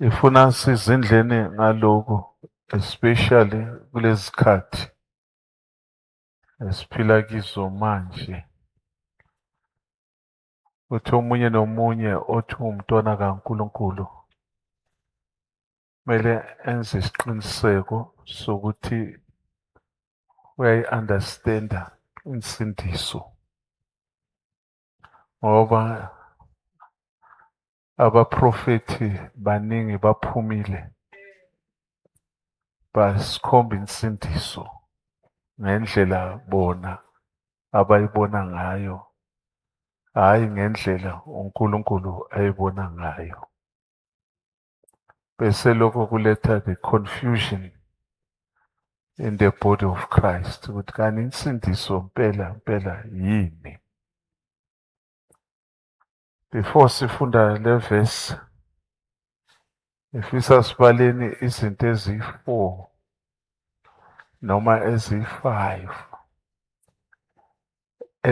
Ngifuna size endleni ngaloko especially kulezi khathi esiphila kizo manje. Uthi omunye nomunye othi uwumntwana kaNkulunkulu kumele enze isiqiniseko sokuthi uyayi-understanda insindiso ngoba abaprofethi baningi baphumile basikhomba insindiso ngendlela bona abayibona ngayo hhayi ngendlela uNkulunkulu ayibona ngayo bese lokho kuletha the confusion in the body of Christ ukuthi kanti insindiso mpela mpela yini before sifunda le verse ngifisa sibaleni izinto eziyi-four noma eziyi-five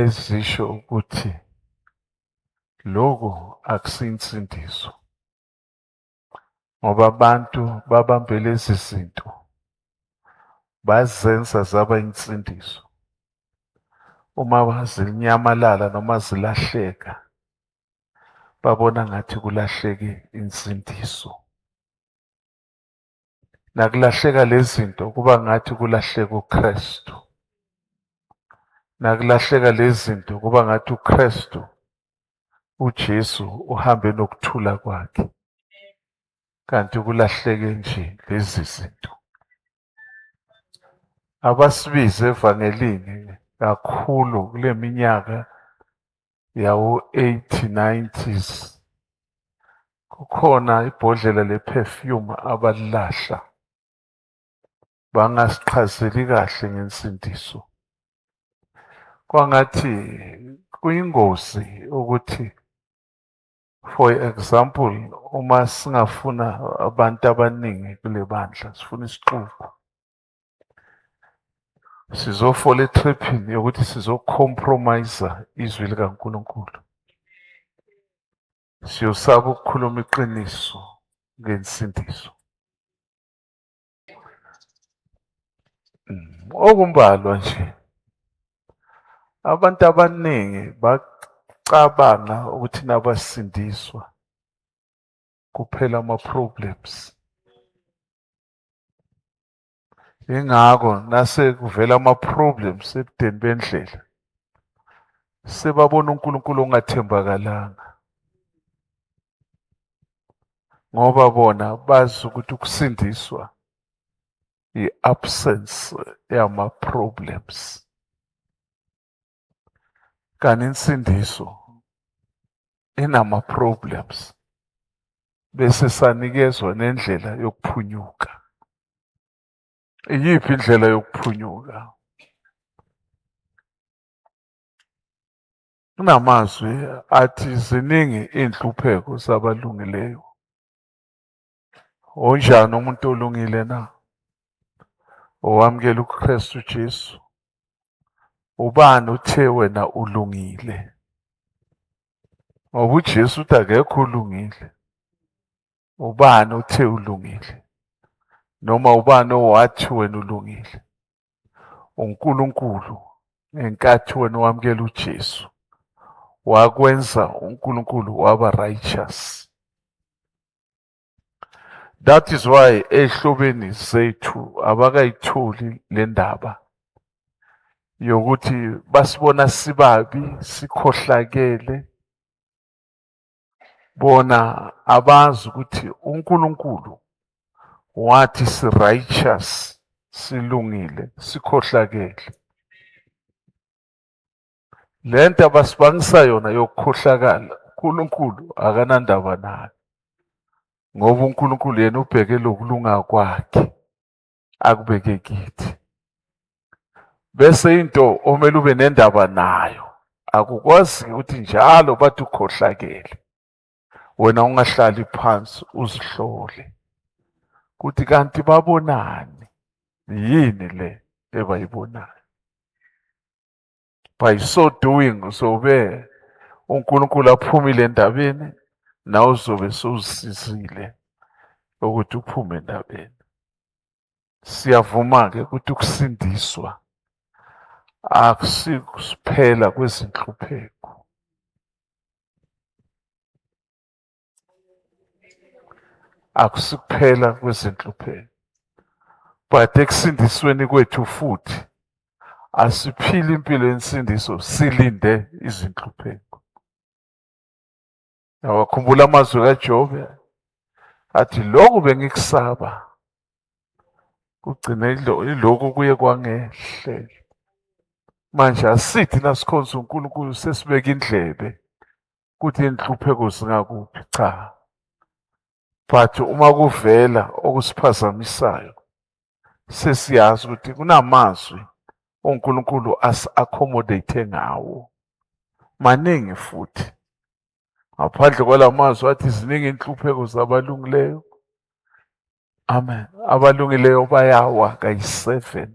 ezisho ukuthi lokho akusinsindiso ngoba abantu babambe lezi zinto bazenza zaba insindiso uma zinyamalala noma zilahleka babona ngathi kulahleke insindiso Nakulahleka lezinto kuba ngathi kulahleka uKristu. Nakulahleka lezinto kuba ngathi uKristu uJesu uhambe nokuthula kwakhe. Kanti kulahleke nje lezi zinto. Abasibize evangelini kakhulu kuleminyaka yawo-8090s kukhona ibhodlela le-perfume abalilahla bangasichazeli kahle ngensindiso kwangathi kuyingozi ukuthi for example uma singafuna abantu abaningi kule bandla sifuna isixuku sizofola etriphini yokuthi sizocompromise izwi likaNkulunkulu siyosaba ukukhuluma iqiniso ngensindiso mm, okumbalwa nje abantu abaningi bacabanga ukuthi nabasindiswa kuphela ama-problems ingakho nase kuvela ama-problems ebudeni bendlela sebabona uNkulunkulu ongathembakalanga ngoba bona bazi ukuthi ukusindiswa i-absence yama-problems kanti insindiso inama-problems bese sanikezwa nendlela yokuphunyuka. Iyiphi indlela yokuphunyuka? Kunamazwi athi ziningi iy'nhlupheko zabalungileyo. Unjani umuntu olungile na? Owamukela uKristu Jesu. Ubani uthe wena ulungile? Ngoba uJesu uthi akekho ulungile. Ubani uthe ulungile? Noma ubani owathi wena ulungile? uNkulunkulu ngenkathi wena wamukela uJesu wakwenza uNkulunkulu waba righteous that is why ehlobeni sethu abakayitholi le ndaba yokuthi basibona sibabi sikhohlakele bona abazi ukuthi uNkulunkulu wathi si righteous silungile sikhohlakele Le nto abasibangisa yona yokukhohlakala uNkulunkulu akanandaba nayo ngoba uNkulunkulu yena ubheke lokulunga kwakhe akubeke kithi bese into omele ube nendaba nayo akukwazi ukuthi njalo bathi ukhohlakele wena ungahlali phansi uzihlole ukuthi kanti babonani yini le ebayibonayo by so doing uzobe uNkulunkulu aphumile endabeni nawe uzobe sowusizile ukuthi uphume endabeni siyavuma-ke ukuthi ukusindiswa akusikusiphela kwezinhlupheko Akusikuphela kwezinhlupheko. But ekusindisweni kwethu futhi asiphili impilo yensindiso silinde izinhlupheko. Awakhumbula amazwi kaJobe athi lokhu bengikusaba kugcine iloku kuye kwangehlela manje asithi nasikhonza uNkulunkulu sesibeka indlebe ukuthi inhlupheko zingakuphi cha but uma kuvela okusiphazamisayo sesiyazi ukuthi kunamazwi uNkulunkulu asi-accommodate ngawo maningi futhi ngaphandle kwalamazwi athi ziningi inhlupheko zabalungileyo amen abalungileyo bayawa kayi-seven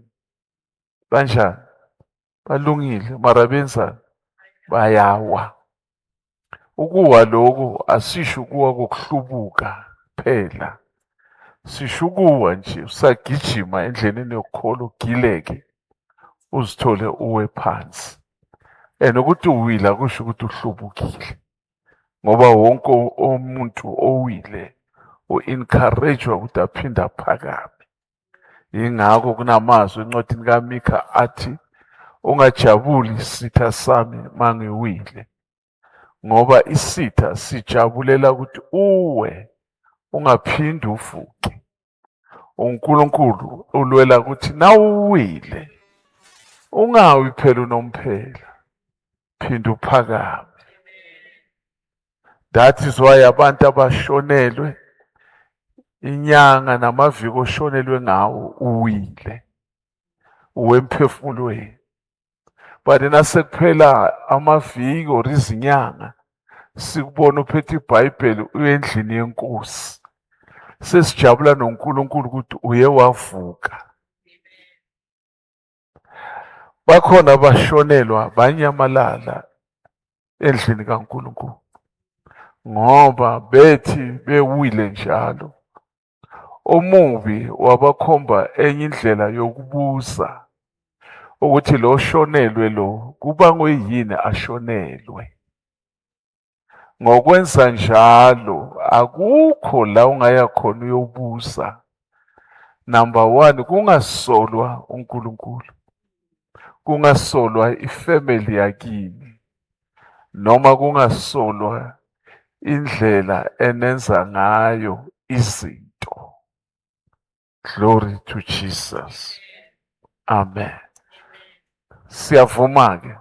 kanjani balungile mara benzani bayawa ukuwa lokho asisho ukuwa kokuhlubuka phela sisho ukuwa nje usagijima endleleni yokukholo ugileke uzithole uwe phansi and ukuthi uwila kusho ukuthi uhlubukile ngoba wonke umuntu owile u-encourage-wa ukuthi aphinde aphakame Yingakho kunamazwi encwadini kaMikha athi, Ungajabuli sitha sami mangiwile, ngoba isitha sijabulela ukuthi uwe, ungaphindi ufuqe. UNkulunkulu ulwela ukuthi nawuwile, ungawi phela unomphela, phinde uphakame. that is why abantu abashonelwe inyanga namaviki oshonelwe ngawo uwile uwemphefumulweni but nasekuphela amaviki or izinyanga sikubona uphethe ibhayibheli uyendlini yenkosi sesijabula noNkulunkulu ukuthi uye wavuka bakhona abashonelwa banyamalala endlini kaNkulunkulu ngoba bethi bewile njalo omubi wabakhomba enye indlela yokubuza ukuthi lo shonelwe lo kubangwe yini ashonelwe Ngokwenza njalo akukho la ungaya khona uyobusa. Number one kungasolwa uNkulunkulu. Kungasolwa ifamily yakini. Noma kungasolwa indlela enenza ngayo izinto. Glory to Jesus. Amen. Siyavuma ke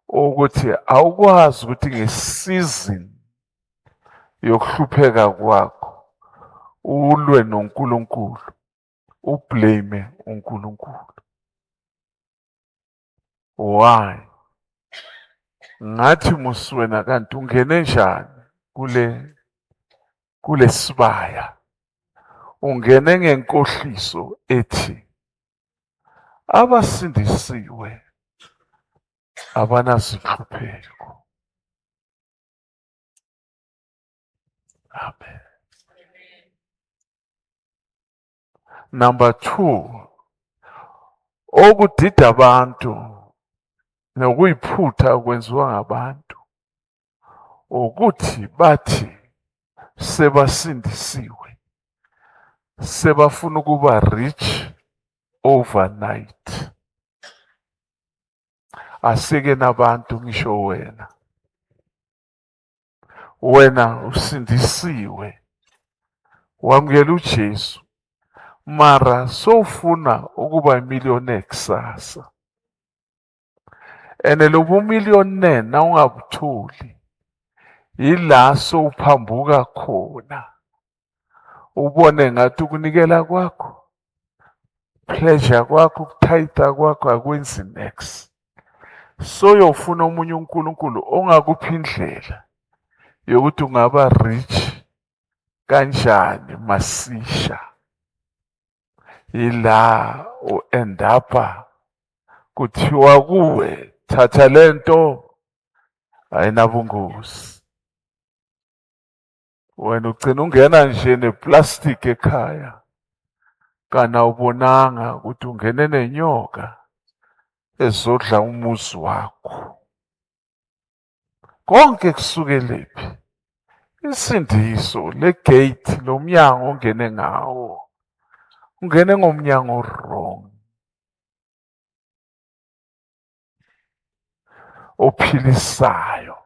ukuthi awukwazi ukuthi ngesizin yokuhlupheka kwakho ulwe noNkulunkulu ublame uNkulunkulu. why ngathi muswena kanti ungene njani kule kulesibaya ungene ngenkohliso ethi abasindisiwe abanazihlupheko amen Number two, okudida abantu nokuyiphutha okwenziwa ngabantu ukuthi bathi sebasindisiwe sebafuna ukuba rich overnight asike nabantu ngisho wena wena usindisiwe wamukela uJesu mara sowufuna ukuba imillionaire kusasa and lobu millionaire nawungabutholi yila sowuphambuka khona ubone ngathi ukunikela kwakho pleasure kwakho ukuthayitha kwakho akwenzi nex soyofuna omunye uNkulunkulu ongakuphi indlela yokuthi ungaba rich kanjani masisha ila u-end up kuthiwa kuwe thatha lento ayinabungozi wena ugcina ungena nje neplastic ekhaya kana awubonanga ukuthi ungene nenyoka ezodla umuzi wakho konke kusukelephi isindiso legate lomnyango ongene ngawo ungene ngomnyango wrong ophilisayo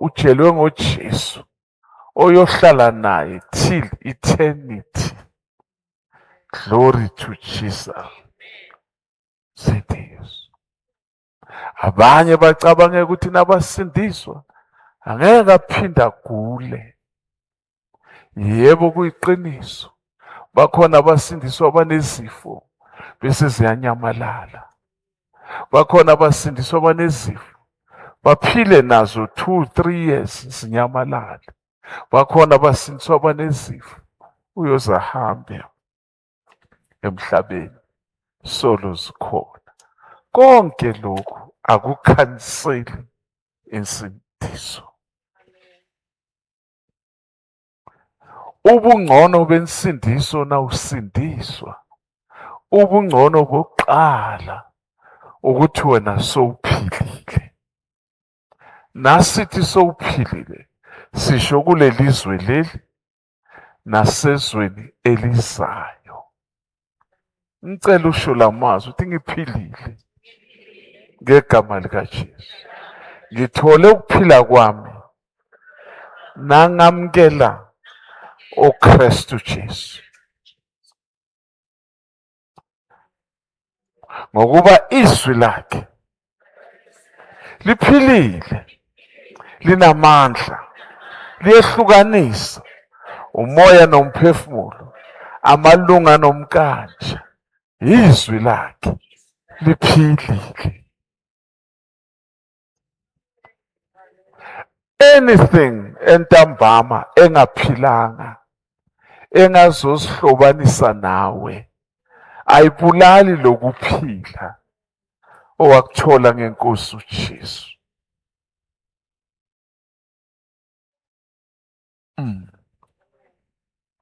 ujelwe ngoJesu oyohlala naye till eternity glory to Jesus sindiswa abanye bacabangeka ukuthi nabasindiswa angeke aphinde agule Yebo kuyiqiniso. Bakhona abasindiswa abanezifo bese ziyanyamalala. Bakhona abasindiswa abanezifo baphile nazo 2 3 years zinyamalale. Bakhona abasindiswa abanezifo uyoze ahambe emhlabeni solo zikhona. Konke lokhu akukhanseli insindiso. ubungcono bensindiso na usindiswa ubungcono bokuqala ukuthi wena sowuphilile nasithi sowuphilile sisho kulelizwe leli nasezweni elizayo ngicela usho la mazwi ukuthi ngiphilile ngegama likaJesu ngithole ukuphila kwami nangamkela uKristu Jesu ngokuba izwi lakhe liphilile linamandla liyehlukanisa umoya nomphefumulo amalunga nomkanje izwi lakhe liphilile anything entambama engaphilanga engazosihlobanisa nawe ayibulali lokuphila owakuthola ngenkosi uJesu mm.